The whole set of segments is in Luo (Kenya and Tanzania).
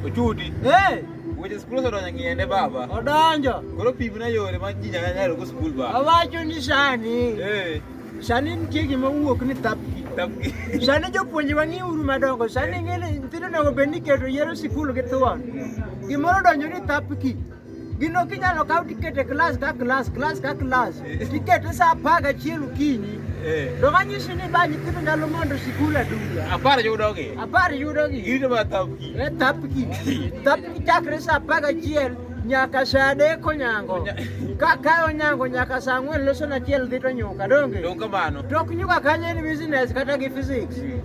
Ochudi. Eh. Weche skul osedonjo ng'iende baba. Odonjo. Koro pim na yore ma ji nyaka nyalo go skul baba. Awacho ni sani. Eh. Sani nitie gima wuok ni tapki. Tapki. Sani jopuonje wang'i uru madongo. Sani ng'e ni nyithindo onego bed ni keto yero sikul gi thuon. Mm. Gimoro donjo ni tapki. Gino kinyalo kaw tiket e klas ka klas, klas ka klas. Tiket sa apar gachiel okinyi. To kanyisi ni ba nyithindo nyalo mondo sikul aduga. Apar yudogi. Apar yudogi. Girito ma thapki. E thapki. Thapki chakre sa apar gachiel nyaka sa adek onyango. Ka ka onyango nyaka sa ang'wen loso na achiel dhi to nyuka donge. Donge kamano. Tok nyuka kanyo en business kata gi physics.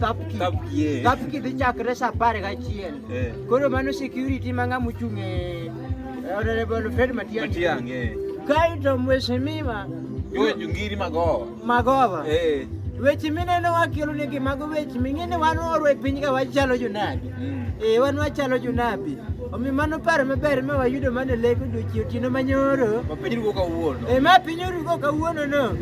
Kapki. Kapki. Eh. Kapki dhi chakre sa apar gachiel. Eh. Koro mano security ma ng'a mochung' e Honorable Fred Matiang'i. Matiang'i. Eh. Kaito mheshimiwa Joe Jungiri Magova. Magova. Eh. Weche mineno wakelonegi mago weche ming'e ni wan oro e piny ka wachalo jonadi. Ee, wan wachalo jonabi. Omiyo mano paro maber ma wayudo mana e lek odiochieng' otieno manyoro. Ma piny rugo kawuono. E ma piny orugo kawuono no.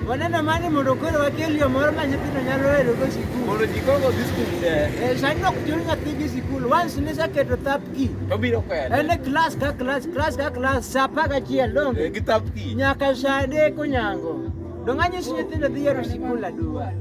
Waneno mani mondo koro wakel yo moro ma nyithindo nyalo hero go sikul. Mondo ji koro dhi sikul te. E, sani ok chul nyathi gi sikul. Once niseketo thap ki. To biro kwede. En e klas ka klas, klas ka klas, sa apar gachiel donge. Gi thap ki. Nyaka sa adek onyango. Donge anyisi nyithindo dhi yero sikul aduwa.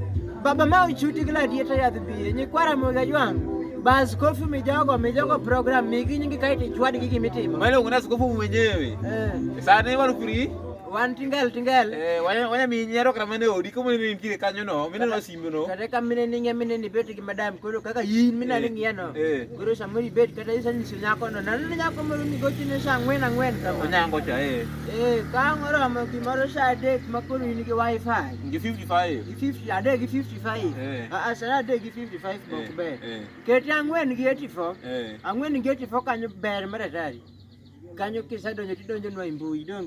Baba ma ochuti gi ladieta yadh biye, nyikwara moga jwang'. Ba askofu mijogo, mijogo program, migi nyingi kae tichwad gi gimitimo. Mano kuna askofu mwenyewe. Eh. Sani walukuri. Wan tingel tingel. Eh, wanya wanya mi nyaro kama ne odi kama ne nitie kanyo no, mine no mino kata ka mine ninge mine ni bet gi madam koro kaka yin mina ni ngiya no koro samuri bet kata isa ni sinya ko no nan ni nyako moro ni gochi ne sa ngwen angwen ka ma nyango cha eh eh ka ngoro ma ki moro sa de ma koro yin gi wifi gi 55 gi 50 ade gi 55 a a sara de gi 55 bok be kete angwen gi 84 angwen gi 84 kanyo ber maratari kanyo kisadonjo tidonjo nwa imbui donge